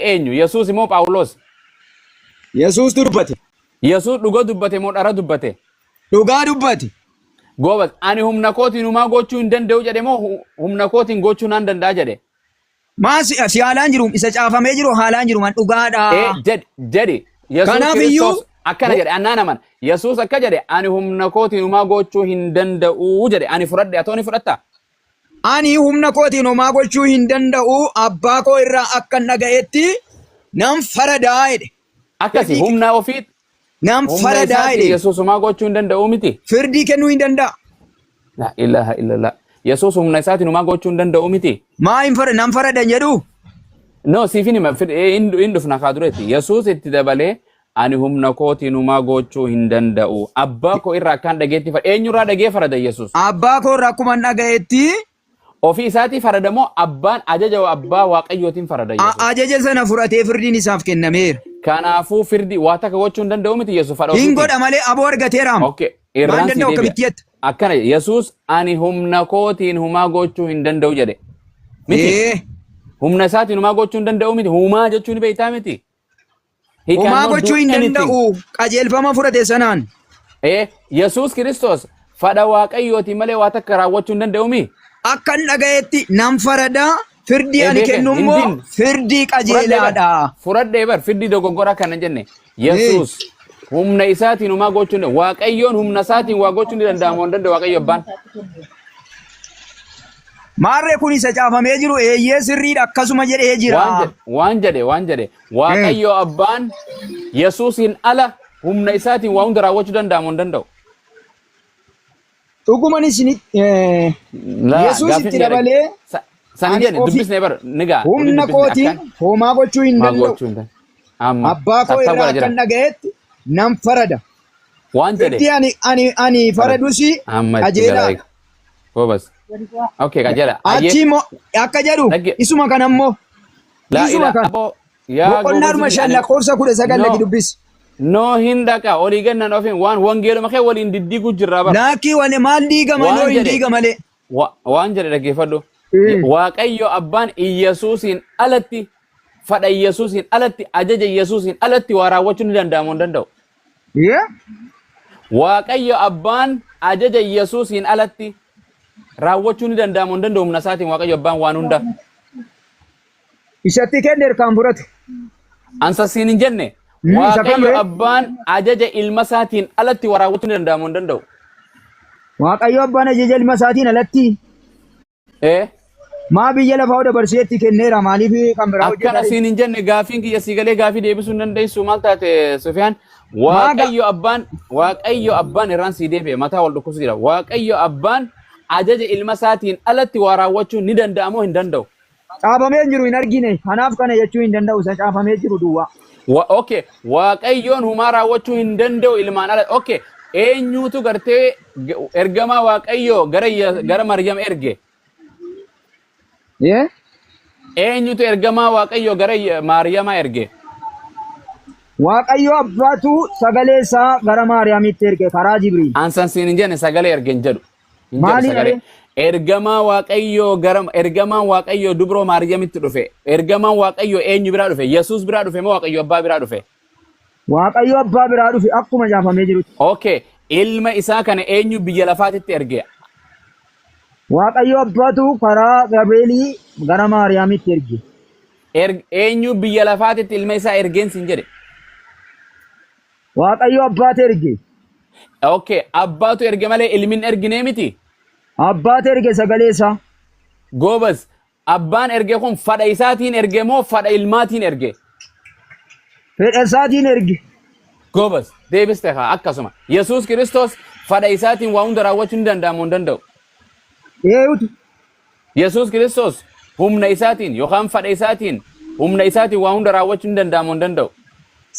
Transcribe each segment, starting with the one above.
eenyu? Yesuus moo Phaawulos? Yesuus dubbate. Yesuus dhuga dubbate moo dhara dubbate? Dhugaa dubbate. Goobas, ani humna kootiin humaa gochuu hin danda'u jedhe moo hu- humna kootiin gochuu nan danda'a jedhe? Maa si si haalaan jiru isa caafamee jiru haalaan jiru man Ee, dhugaadha. jedhi, jedhi. Yesuus Kanaaf Kiristoos iyyuu- akkana jedhe, annaa naman. Yesuus akka jedhe, ani humna kootiin humaa gochuu hin danda'u jedhe. Ani fudhadhe, atooni fudhatta? Ani humna kootiin homaa gochuu hin danda'u, abbaa koo irraa akkan dhaga'etti nan faradaa jedhe. Akkasi Firdii- humna ofii Nan humna faradaa isaatti jedhe. Yesuus homaa gochuu hin danda'u miti. Firdii kennuu hin danda'a. La ilaha illallah. Yesuus humna isaatiin homaa gochuu hin danda'u miti. Maa hin fara- nan faradan jedhu? No, siifin hima fir- eh, hin hin dhufna kaa duretti. Yesuus itti dabalee Ani humna kootiin humaa goochuu hin danda'u. Abbaa koo irraa akkaan dhageetti farada. Eenyu irraa dhagee farada Yesus? Abbaa koo irraa akkuman dhaga'etti. Ofii isaatii farada moo abbaan ajaja abbaa waaqayyootiin farada A- Yesus? Ajaja sana fudhatee firdiin isaaf kennameera. Kanaafuu firdi waa takka gochuu hin danda'u miti Yesus fadha Hin ofiitiin. godha malee aboo argateeraam. Okay. Maal Irraan si danda'u deebi'a. akkamitti jetta? Akkana jedhe, Yesus ani humna kootiin humaa gochuu hin danda'u jedhe. Miti. Ee, Humna isaatiin humaa gochuu hin danda'u miti. Humaa jechuun beektaa miti. He Homaa cannot do gochuu hin anything. danda'u qajeelfama fudhate sanaan. Eh, Yesuus Kiristoos fadha Waaqayyooti malee waa takka raawwachuu hin danda'u mii? Akkan dhagayetti nan faradaa firdii ani Ebeeken, kennu immoo hin fin- firdii Furadhee bar. qajeelaadha. Furadhee bar. Firdii dogoggoraa kana jenne. Yesuus humna isaatiin homaa gochuu hin danda'u. Waaqayyoon humna isaatiin waa gochuu ni danda'amu hin danda'u Waaqayyo abbaan. Maarree kun isa caafamee jiru eeyyee sirriidha akkasuma jedhee Waan jira. jedhe waan jedhe waan jedhe Hmm. Waaqayyo abbaan Yesuusiin ala humna isaatiin waa hunda raawwachuu danda'amu hin danda'u. Dhuguman isinitti eh, Laa, Yesuus gaaffiin itti kiyya dhag- dabalee sa- San hin ani jedhe ofii dubbisne bar ni gaa humna dubbisne akkan kootiin homaa gochuu hin maa danda'u. gochuu hin danda'u. Amma Abbaa koo irraa sassaabbara jira. akkan dhaga'etti nan farada. Waan Firdii jedhe ani ani ani faradus amma itti qajeelaa. galaa eega. Boobas. Okay qajeela. Achi Ayyee immoo akka jedhu Dhagge- isuma kana immoo Laa Dhiisuma ilaa kan. aboo yaa Boqonnaa goobasii dhuma kiyya shan ani lakkoofsa kudha sagal no lagi dubbisi. no hin dhaqa olii gannan ofiin waan wangeeluma kee waliin diddiiguu jirraa bar Laakkii wane maal diigama waan yoo hin jedhe diiga malee. wa- waan jedhe dhaggeeffadhu Y- Mm. waaqayyo abbaan iyyasuusiin alatti fadha iyyasuusiin alatti ajaja iyyasuusiin alatti waa raawwachuu ni danda'amu hin danda'u Yee? Waaqayyo abbaan ajaja Yesuusiin alatti raawwachuu ni danda'amu hin danda'u humna isaatiin Waaqayyo abbaan waan hunda. Isatti kenneer kan fudhatu. Ansa siin hin jenne Mm, isa Waaqayyo kamree? abbaan ajaja ilma isaatiin alatti waa raawwachuu ni danda'amu hin danda'u. Waaqayyo abbaan ajaja ilma isaatiin alatti Ee Maa biyya lafaa dabarseetti kenneera maaliif kan biraa akkana hojjetaa siin hin jenne gaafiin kiyya sii galee gaafii deebisuu hin dandeessu maal taate Sufiyaan Maaga- waaqayyo abbaan waaqayyo abbaan irraan sii deebi'e mataa wal dhukkubsu jira waaqayyo abbaan ajaja ilma isaatiin alatti waa raawwachuun ni danda'a moo hin danda'u? caafamee hin jiru hin argine kanaaf kana jechuu hin danda'u isa caafamee jiru duwwaa. Wa okay waaqayyoon humaa raawwachuu hin danda'u ilmaan ala okay eenyuutu gartee G- Ergamaa Waaqayyoo gara Ya- gara Maryam erge. Yee? Eenyutu ergamaa Waaqayyoo gara Ya- Maariyamaa erge? Waaqayyo abbaatu sagalee isaa gara Maariyaamitti erge karaa Jibriil. Ansan siin hin jenne sagalee erge hin jedhu. Hin jedhu Maaliidha sagalee. ree? Ergamaa Waaqayyoo gara ergamaan Waaqayyoo dubroo Maariyamitti dhufe. Ergamaan Waaqayyoo eenyu biraa dhufe? Yesuus biraa dhufe moo Waaqayyo abbaa biraa dhufe? Waaqayyo abbaa biraa dhufe akkuma caafamee jirutti. Okay. Ilma isaa kana eenyu biyya lafaatitti erge? Waaqayyo abbaatu karaa Gabri'eelii gara Maariyaamitti erge. Erg- Eenyu biyya lafaatitti ilma isaa ergeen sin jedhe? Waaqayyo abbaatu erge. Okay. Abbaatu erge malee ilmi hin erginee miti? Abbaatu erge sagalee isaa. Goobas. Abbaan erge kun fadha isaatiin erge moo fadha ilmaatiin erge? Fedha isaatiin erge. Goobas, deebiste kaa akkasuma. Yesuus Kiristoos fadha isaatiin waa hunda raawwachuu ni danda'a moo hin danda'u? Eeyutu. Yesuus Kiristoos humna isaatiin yookaan fadha isaatiin humna isaatiin waa hunda raawwachuu ni danda'a moo hin danda'u?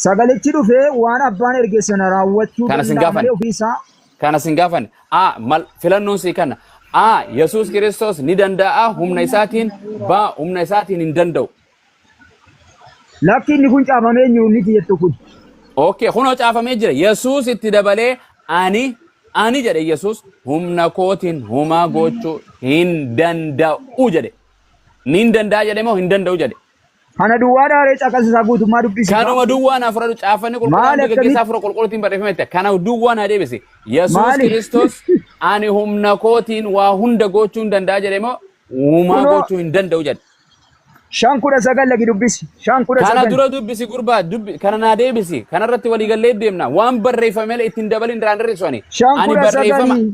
Sagalichi dhufee waan abbaan erge sana raawwachuu Kana sin danda'amee gaafan. ofii isaa Kana sin gaafan. A. Mal filannoon sii kana. A. Yesuus Kiristoos ni danda'a humna isaatiin. B. Humna isaatiin hin danda'u. Lakki inni kun caafamee hin jiru inni itti jettu kun. Okay, kunoo caafamee jira. Yesuus itti dabalee ani ani jedhe Yesuus humna kootiin homaa gochuu hin danda'u jedhe. Ni hin danda'a jedhe moo hin danda'u jedhe? Kana duwwaa dhaaree caqasa isaa guutummaa dubbisi. Kanuma duwwaa naaf fudhadhu caaffanni qulqulluu Maali hanga gaggeessaa akkamitti? fura qulqulluutiin barreeffame jette. Kana duwwaa naa deebisi. Yesuus Maali? Kiristoos ani humna kootiin waa hunda gochuu hin danda'a jedhe moo uumaa Kunoo. gochuu hin danda'u jedhe. Shan kudha sagal lagi dubbisi. Shan kudha Kana sagal. dura dubbisi gurbaa dubbi kana naa deebisi. Kanarratti waliigallee deemna. Waan barreeffame malee ittiin dabalin irraa hin hir'isu ani. Shan Ani kudha barreeffama sagalii.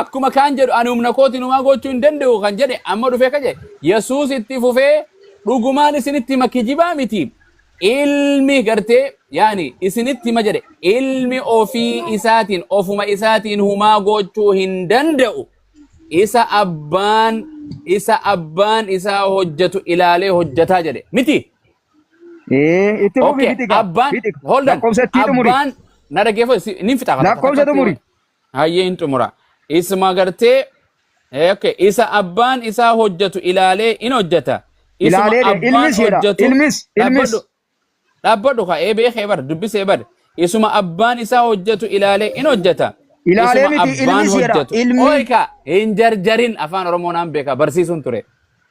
Akkuma kaan jedhu ani humna kootiin homaa gochuu hin danda'u kan jedhe amma dhufee akka jedhe Yesuus itti fufee dhugumaan isinitti hima kijibaa miti ilmi gartee yaani isinitti hima jedhe ilmi ofii isaatiin ofuma isaatiin humaa gochuu hin danda'u isa abbaan isa abbaan isaa hojjetu ilaalee hojjetaa jedhe miti Ee, itti fufi Okay, fixi gaa. abbaan Fixi. hold on Lakkoofsa itti xumuri. abbaan na dhaggeeffatu si- nin fixa Lakkoofsa xumuri. Hayyee hin xumura. Isma gartee eh, okay. isa abbaan isaa hojjetu ilaalee in hojjeta. Isma Ilaalee de- abbaan ilmis jedha. hojjetu Ilmis, ilmis. dhaabbadhu dhaabbadhu ka'ee beekee bar dubbisee bar isuma abbaan isaa hojjetu ilaalee in hojjeta. Ilaalee Isuma miti, abbaan ilmis jedha. hojjetu. Ilmi. Ooyka hin jarjarin afaan oromoo naan beeka barsiisuun ture.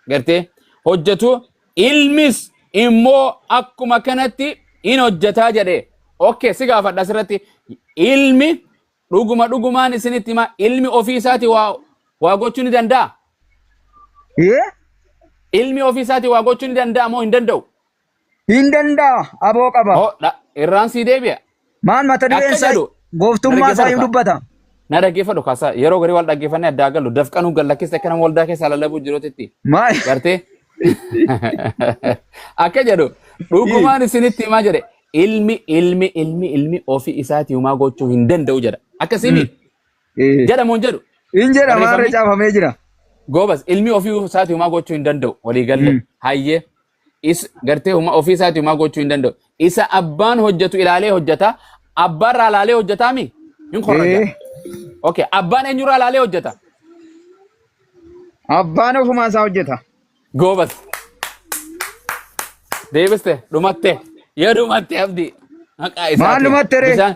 Gartee hojjetu Ilmis immoo akkuma kanatti in hojjetaa jedhe. Ok, si gaafadha asirratti. Ilmi dhuguma dhugumaan isinitti hima ilmi ofii isaati waa waa gochuu ni danda'a? Ee? Ilmi ofii isaati waa gochuu ni danda'a moo hin danda'u? Hin danda'a. Aboo qaba. Oh, dha, irraan sii deebi'a. Maal mata dureen Akka isaa jedhu, gooftummaa isaa hin dhaggeeffadhu dubbata. Na dhaggeeffadhu kaasaa yeroo garii wal dhaggeeffannee addaa galu dafqanuu gallakkista akka nama waldaa keessaa lallabuu jiruutti Maal? gartee akka jedhu dhugumaan isinitti himaa jedhe ilmi ilmi ilmi ilmi ofii isaatii homaa gochuu hin danda'u jedha akkasii mi Eh, jedhamu hin jedhu Hin jedhama har'a barreeffamni caafamee jira. goobas ilmi ofii isaatii homaa gochuu hin danda'u walii galle Mm. hayyee is gartee huma ofii isaati humaa gochuu hin danda'u. Isa abbaan hojjetu ilaalee hojjeta. Abbaan irraa ilaalee hojjetaa mi? Hin korraja. Ee, Okay. Abbaan eenyurraa ilaalee hojjeta? abbaan ofumaa isaa hojjeta. Goobas. Deebiste dhumatte. Yoo dhumatte abdi. Maqaa Maal isaatiin. dhumatte ree? Bishaan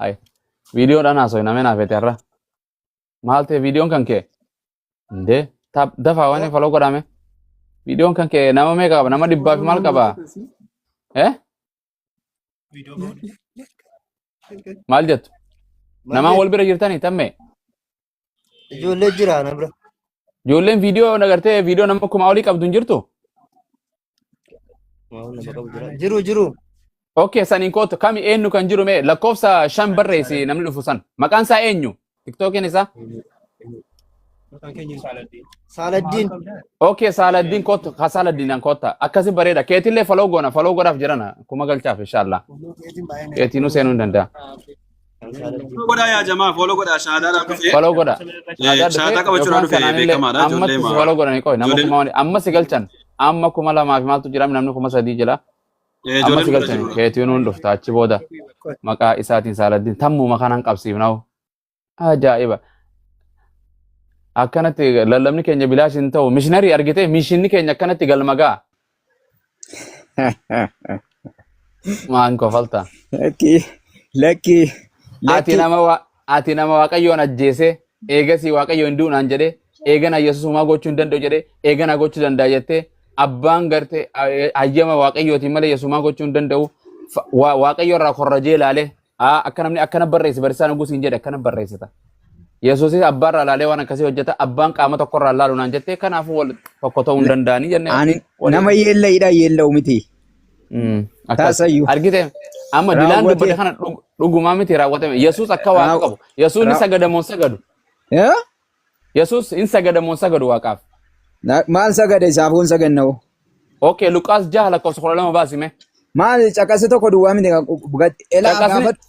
Hay. Viidiyoo dhaan haasoo hin ameen hafeete har'a. Maal ta'e viidiyoon kan kee? Indee. Taap dafaa waan faloo godhame. Viidiyoon kan kee nama meeqa qaba? Nama dhibbaa fi maal qaba? Eh? Maal jettu? Namaan wal bira jirtanii tammee? Ijoollee jira na bira. Ijoolleen viidiyoo nagartee viidiyoo nama kumaa olii qabdu hin jirtu? Maal nama qabu jira. Jiru jiru. Okay, saniin kootu kami eenyu kan jiru mee lakkoofsa shan barreessi namni dhufu san. Maqaan isaa eenyu? Tiktookiin isaa? Saaladdiin. Okay, Saaladdiin kootu ka Saaladdiinaan kootta. Akkasi bareeda. Keetillee faloo goona faloo godhaaf jirana. Kuma galchaaf inshaallah. Keetiinuu seenuu hin danda'a. godhaa yaa jamaa fooloo godhaa shaadaadhaan dhufee Follow godha. Eh, Aadaa shaataa dhufee qabachuudhaan yookaan dhufee kanaanillee beekamaadha, ijoollee ammatti si maa- follow godhani qoy nama ijoollee- kuma wani amma si galchan amma kuma lamaa fi maaltu jira namni kuma sadii jira Eh, amma ijoolleen si bira galchan jirudha. keetiin hundi dhufta achi booda maqaa isaatiin saaladdiin tammuma kanaan qabsiifnaa'u ajaa'iba akkanatti lallabni keenya bilaash hin ta'u mishinarii argitee mishinni keenya akkanatti galma ga'a Maan kofalta. Lakki lakki Ati lakki nama wa- ati nama waaqayyoon ajjeese eegasii waaqayyo hin du'u naan jedhe eegana yesus homaa gochuu hin danda'u jedhe eegana gochuu danda'a jettee abbaan garte hayyama waaqayyootiin malee yesus homaa gochuu hin danda'u Fa- wa- waaqayyo irraa korrajee ilaale A, Akka namni akkana barreesse barsiisaan oguu siin jedhe akkana barreessita. Yesuusis abbaarraa ilaalee waan akkasii hojjeta abbaan qaama tokkorraa ilaalu naan jettee kanaafuu wal tokko ta'uu hin danda'anii jennee Ani waliin. nama yeellayidha yeella'u miti. Mm, akkas. Taasayyu. Argite amma dilaan Raawwate. dubbate kana dhug- dhugumaa miti raawwatame. Yesuus akka waaqa Raaw- qabu. Yesuusni raaw- sagadaa moo hin sagadu. Eh? Yesus in sagada moo hin sagadu waaqaaf? Na- Maal sagada isaaf hin saganna hoo? Okay, Luqaas jaha lakkoofsa kudha lama baasi mee. Maal caqasi tokko duwwaa miti kan bugatti. Elaa Caqasni- gaafatti.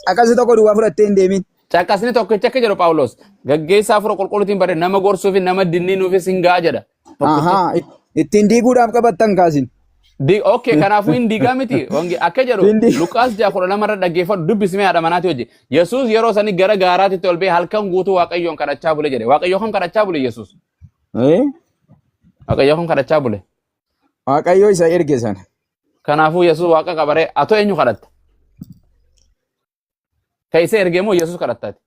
Caqasi tokko duwwaa fudhattee hin deemin. Caqasni tokkicha akka jedhu Phaawulos gaggeessaa hafuura qulqulluutiin barree nama gorsuufi nama dinniinuufis hin ga'a jedha. tokkicha Ahaa, it- ittiin diiguudhaaf qabattan kaasin. Di- okay kanaafuu hin diigaa miti Wange- akka jedhu Ittiin diig- luqaas ja'a kudha lama irra dhaggeeffadhu dubbisime haadha manaatii hojii yesuus yeroo sanii gara gaaraatitti ol ba'e halkan guutuu waaqayyoon kadhachaa bule jedhe waaqayyoo kan kadhachaa bule yesuus Eh? waaqayyoo kan kadhachaa bule Waaqayyo isa erge sana. kanaafuu yesuus waaqa qabaree atoo eenyu kadhatta Ka isa erge moo Yesus kadhattaati?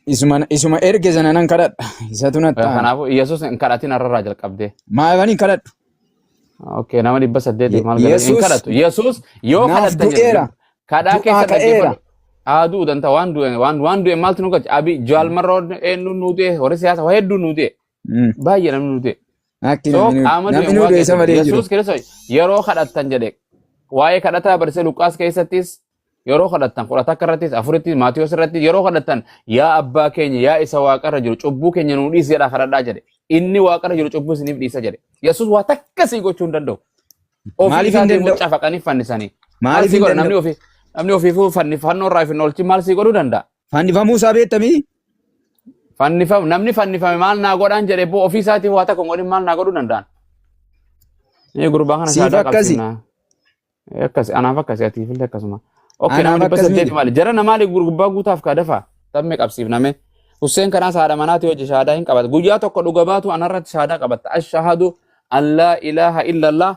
Isuma, isuma erge sana nan kadhadha. Isatu na ta'a. Kanaafuu Yesus hin kadhatin har'arraa jalqabdee. Maaliif hin kadhadhu? Okay, nama dhibba saddeetiif Ye- maal galata? Hin Yesus kadhatu. Yesus yoo naaf kadhatta jedhe du'eera. dub- kadhaa Du'aa keessa ka'eera. dhaggeeffadhu. Haa du'u danda'a waan du'e waan waan du'e maaltu nu galcha? Abi Jaal Marroon eenyuun nu du'e? Warri siyaasa waa hedduun nu du'e. Mm. Baay'ee namni nu du'e. Akki So namni qaama du'e namni du'e isa waaqeffate. malee hin jiru. Yesuus Kiristoos yeroo kadhattan jedhe waa'ee kadhataa barsiisa Luqaas keessattis yeroo kadhattan kudha takka irrattis afurittis Maatiyoos irratti yeroo kadhattan yaa abbaa keenya yaa isa waaqarra jiru cubbuu keenya nuu dhiisi jedhaa kadhadhaa jedhe. Inni waaqarra jiru cubbuu isiniif dhiisa jedhe. Yesuus waa takka sii gochuu hin danda'u. Ofii Maaliif hin isaatiin danda'u? mucaa fannifanii. Maal Maaliif sii hin godha namni danda'u? ofii namni ofiifuu fannifannoo irraa hin oolchin maal sii godhuu danda'a? Fannifamuu isaa beektamii? Fannifam namni fannifame maal naa godhaan jedhe boo ofii isaatii waa takka hin godhin maal naa godhuu danda'an. Ee gurbaa kana Siif saadaa akkasi. qabsiifnaa. Akkasi anaaf akkasi atiif illee akkasuma. Okkee Anaaf nama dhibba akkas saddeeti miti. maali jara na maali gurbaa guutaaf kaa dafa tamme qabsiifname. Husseen kanaas haadha manaati hojii shaadaa hin qabata. Guyyaa tokko dhuga baatu anarratti shaadaa qabatta. Ashahadu an laa ilaaha illallah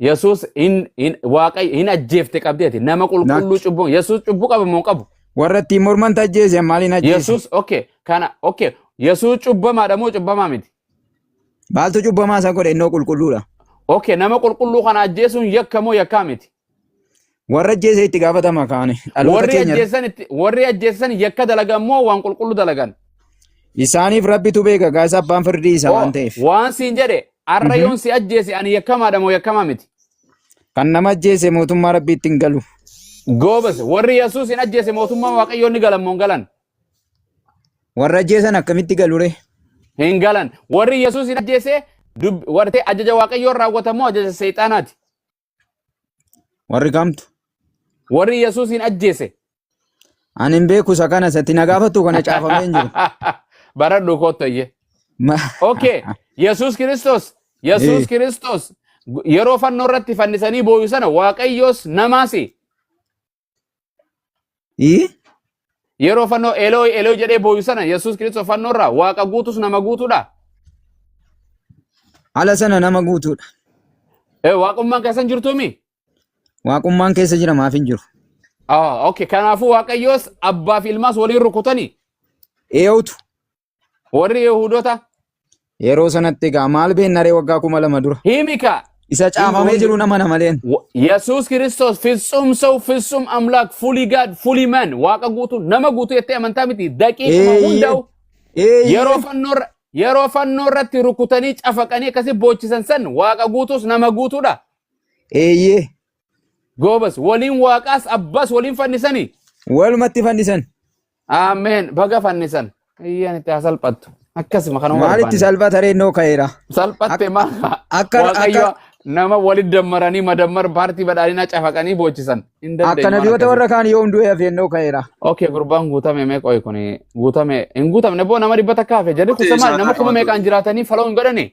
Yesuus hin hin waaqayyo hin ajjeefte qabdi ati nama qulqulluu Natti. cubbuu Yesuus cubbuu qaba moo hin qabu? Warra ittiin morman tajjeese maaliin ajjeese? Yesuus okay kana okay Yesuus cubbamaadha moo cubbamaa miti? Maaltu cubbamaa isa godhe innoo qulqulluudha? Okay nama qulqulluu kana ajjeesuun yakka moo yakkaa miti? Warra ajjeese itti gaafatama kaani. Dhaloota Warri keenya ajjeessan itti warri ajjeessan yakka dalagan moo waan qulqullu dalagan? isaaniif rabbitu beeka gaasa abbaan firdii isa Oo, waan ta'eef. waan siin jedhe arra Mhm. yoon si ajjeese ani yakkamaadha moo yakkamaa miti? Kan nama ajjeese mootummaa rabbii ittiin galu. Goobas warri Yesuus hin ajjeese mootummaa Waaqayyoon ni galan moo hin galan? Warra ajjeesan akkamitti galure? Hin galan. Warri Yesuus hin ajjeese dub- wartee ajaja Waaqayyoon raawwatamoo ajaja seexaanaati? Warri kamtu? Warri Yesuusiin ajjeese. Ani hin beeku isa kana isatti na gaafatu kana caafamee hin jiru. Baradhu koottayye. Ma- Okay. Yesuus Kiristoos. Yesuus Eh. Kiristoos yeroo fannoo irratti fannisanii booyu sana Waaqayyoos namaasi. Ii? Yeroo fannoo Elooy Elooy jedhee booyu sana Yesuus Kiristoos fannoo irraa waaqa guutus nama guutuudha. Ala sana nama guutuudha. Eh, Waaqummaan keessan jirtuumi? Waaqummaan keessa jira maaf hin jiru. Ah, okay. Kanaafuu Waaqayyoos abbaa fi ilmaas waliin rukutanii Eewutu. Warri Yihudota Yeroo sanatti egaa maal beennaree waggaa kuma lama dura. himika Isa hin caafamee hundi jiru nama namaleen. Wa- Yesuus Kiristoos fitsum sa'u fitsum amlaak fully God fully man waaqa guutuu nama guutuu jettee amantaa miti daqiiquma Eeyyee. hundaa'u yeroo Eeyyee. fannoo irra- yeroo fannoo irratti rukutanii cafaqanii akkasi boochisan san waaqa guutuus nama guutuudha. Eeyyee. Goobas waliin waaqaas abbas waliin fannisanii Walumatti fannisan. Ameen. Baga fannisan. Iyyaan itti haa salphattu. Akkasuma kanuma Maalitti barbaanne. salphata reennoo ka'eera? Salphatte maal fa'a? akka- Waaqayyo akka- nama walitti dammaranii madammar paartii badhaadhinaa cafaqanii boochisan. Hin dandeenye Akka waan nabiyoota akkasii. warra kaan yoom du'e hafeennoo ka'eera. Okay, gurbaan guutame mee qoy kun guutame hin guutamne boo nama dhibba takka hafe jedhe kun maali nama kuma meeqaan jiraatanii faloo hin godhane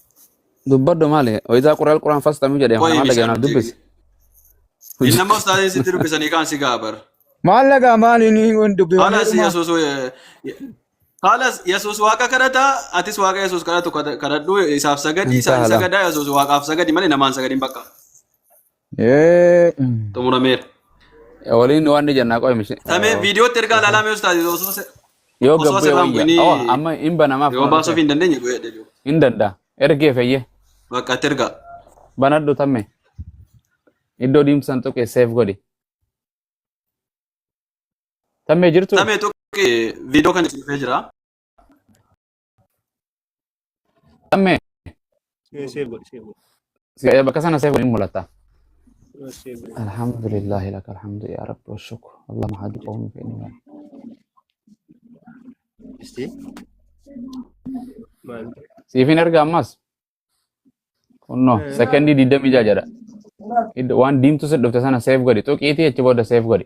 Dubbadhu maali? Waydaa quraal quraan fastamuu jedhee Qoyi maal dhaga'e naaf misaan dubbisi. Inni nama ustaazii sitti dubbisanii kaan si gaabar. Maal lagaa maal inni hin dubbifamee Halas dhuma. Yesuus Halas Yesuus waaqa kadhata atis waaqa Yesuus kadhatu kadhadhu isaaf sagadi Insha isaan Allah. sagadaa Yesuus waaqaaf sagadi malee namaan sagadin bakka. xumurameera. Waliin waan ni jennaa qo'e mishee. Samee viidiyootti ergaa ilaalaa mee ustaazi osoo se- Yoo osoo gabbee sirraan wayya. bu'inii Oh, amma hin banamaaf yoo baasuuf hin dandeenye bu'ee jedhu. hin danda'a. Ergee fayyee. Bakka itti ergaa. Banadhu tamme. Iddoo diimsan tuqe seef godhi. Tammee jirtu? Samee tuqi viidiyoo kan itti dhufee jira. Ammee. Bakka sana seefu hin mul'ata. Alhamdulillahi laka alhamdu yaa rabbi wa shukru. Allah mahadu qawmi fi inni Siifin erga ammas. Kunno sekondii digdamii ja'a jedha. Iddo waan diimtu si dhufte sana seef godhi. Tuqiitii achi booda seef godhi.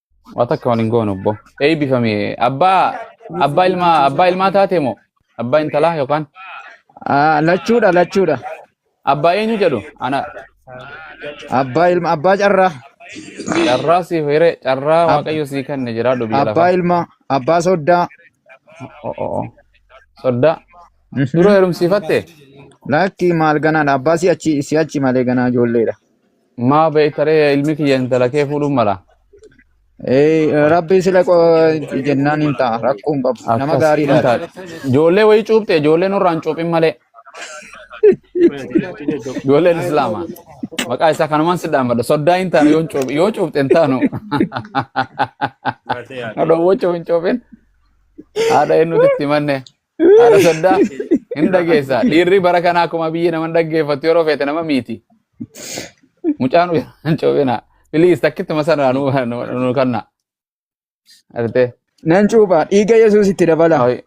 Waa takka waliin goonu obbo. Eebbifame. Abbaa abbaa ilmaa abbaa ilmaa taate moo? Abbaa intalaa yookaan Ah, Lachuudha lachuudha. abbaa eenyu jedhu? Ana Abbaa ilma abbaa carraa. carraa siif hire carraa Ab- waaqayyo sii kenne jiraadhu biyya Abbaa lafaa. ilmaa abbaa soddaa. Oh, oh, oh. Soddaa. Mhm. Dura heerumsiifatte? Lakki maal ganaadha abbaa si'achi si'achi malee ganaa ijoolleedha. Maa beektaree ilmi kiyya intala kee fuudhuun mala. Ee, Rabbi sila qo- jennaan hin ta'a. Rakkoo hin qabu. Nama Akkas hin gaariidha. taate. Ijoollee wayii cuuphte ijoollee nurraan cuuphin malee. Ijoolleen Islaamaa. Maqaa isaa kanumaan si dhaamadha. Soddaa hin taanu yoo cuuphe yoo cuuphte hin taanu. Haadha wajjin hin cuuphin. Haadha eenyuutti itti manne. Haadha soddaa hin dhageessaa. Dhiirri bara kanaa akkuma biyyi nama hin dhaggeeffattu yeroo feete nama miiti. Mucaan hin coobina. Piliis takkitti masanaa nu nu- nu kanna. Artee. Nan cuupha. Dhiiga Yesuus itti dabala. Ay,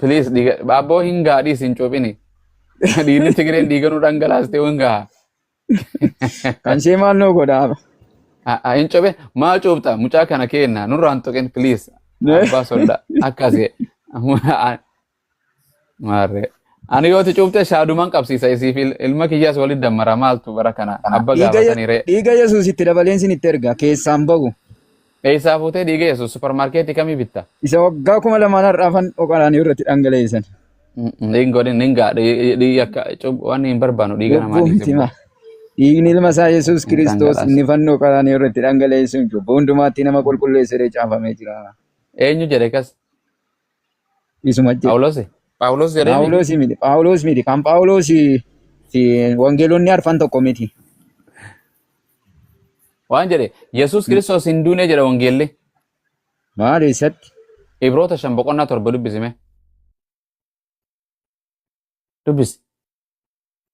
Piliis dhiiga. Abboo hin gaadhiis hin coobini. Dhiirri Tigireen dhiiga nu dhangalaastee hin gaha. Kan ishee maal nuu godha haaba. A- a- Hin cobee maa cuubta mucaa kana keenna nurraan tuqin please abbaa solla akkasi maarree ani yooti cuubte shaaduman qabsiisa isiif il- ilma kiyyaas walitti dammara maaltu bara kana abba Dhiiga Ye- gaafatanii ree dhiiga Yesuus itti dabaleen sin itti erga keessaan bahu. Eessaa fuutee dhiiga Yesuus suuparmaarkeetii kamii bitta? Isa waggaa kuma lamaan har'aafan oqalaanii irratti dhangaleessan. Dhiigni godhin hin gaadha. Dhiigni akka cubbuu waan hin barbaannu dhiiga namaa Cubbuu dhiiga. miti ma. Dhiigni ilma isaa Yesuus Hin Kiristoos dhangalaasa. inni fannoo qalaanii irratti dhangaleessuun cubbuu hundumaatti nama qulqulleesseree caafamee jira. Eenyu jedhe kas? Isuma jedhe. Phaawulosi? Phaawulos jedhee miti. Phaawulos miti. Phaawulos miti. Kan Phaawulos fi wangeelonni arfan tokko miti. Waan jedhe Yesuus Kiristoos hin duune jedha wangeelli. Maal eessatti? Ibroota shan boqonnaa torba dubbisime. Dubbisi.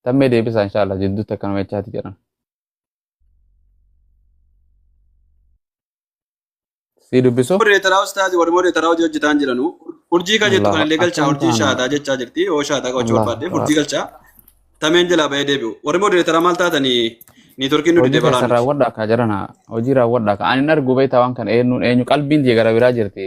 Tammee deebisaa inshaallah jidduutti akkanuma jechaati jedhan. Sii dubbisu. Modereetaraa ustaazi warri modereetaraa hojii hojjetaan jiranu urjii kan jettu kan Allahu illee galchaa akkam urjii taana. shaataa jechaa jirti yoo shaataa qabachuu Allahu barbaaddeef urjii akbar. galchaa tameen jalaa ba'ee deebi'u warri modereetaraa maal taatanii niitorkiin nu Hojii didee keessan balaanuuf raawwadhaa kaa jarana. Hojii raawwadhaa kaa. Ani hin argu beektaa waan kana eenyuun eenyu qalbiin jee gara biraa jirti.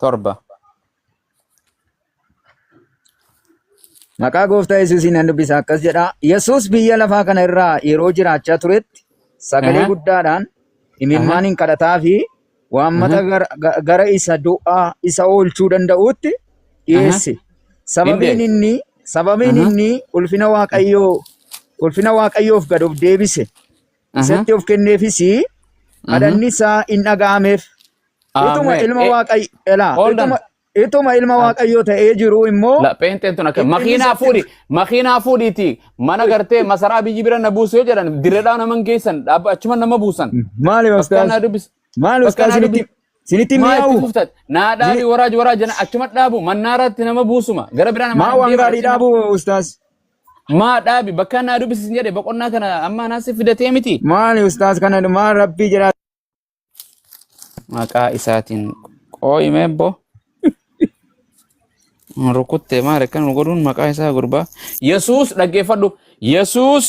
torba. Maqaa gooftaa Yesuusiin nan dubbisa akkas jedha. Yesuus biyya lafaa kana irraa yeroo jiraachaa turetti sagalee Aha. guddaadhaan Aha. imimmaan hin kadhataa fi Aha. waammata gara, ga- gara isa du'aa isa oolchuu danda'uutti Aha. dhiyeesse. Hin Sababiin deesse. inni sababiin Aha. inni ulfina Waaqayyoo ulfina Waaqayyoof gad of deebise. isatti of kenneefis kadhanni isaa in dhaga'ameef. Utuma Ameen. ilma Eh, waaqayyo elaa hold on. utuma utuma ilma waaqayyoo ta'ee jiru immoo La pheenxeen tun akka Inni makiinaa isatti- fuudhi makiinaa fuudhiiti mana gartee masaraa biyyi bira na buusu yoo jedhan dirreedhaa naman geessan dhaabba achuma nama buusan. maali Bakka ustaaz naa dubbis. maali bakka ustaaz naa sinitti dubbis. sinitti Maa itti mi'aawu fuftat naa dhaabi waraaj waraaj jedhan achuma dhaabu mannaaraatti nama buusuma gara biraa nama maa hin waan deeman gaarii achuma. dhaabu ustaaz Maa dhaabi bakka naa dubbisi sin jedhe boqonnaa kana amma anaa si fidatee miti. Maali ustaaz kana dhumaa rabbii jedhaa. Maqaa isaatiin qooyi meebbo. Rukuttee maal akkan nu godhuun maqaa isaa gurbaa. Yesuus dhaggeeffadhu. Yesuus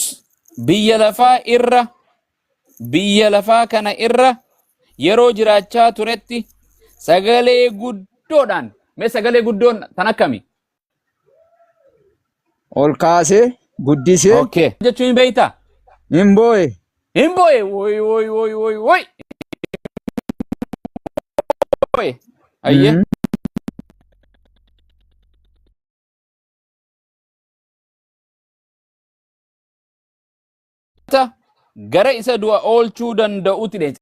biyya lafaa irra biyya lafaa kana irra yeroo jiraachaa turetti sagalee guddoodhaan mee sagalee guddoon tan akkami? Ol kaasee guddisee Okay. Jechuun hin beektaa? hin boo'e. Hin boo'e. Woy woy woy woy woy. Boo'e. Ayyee. Mhm. Ta- Gara isa du'a oolchuu danda'utti deemte.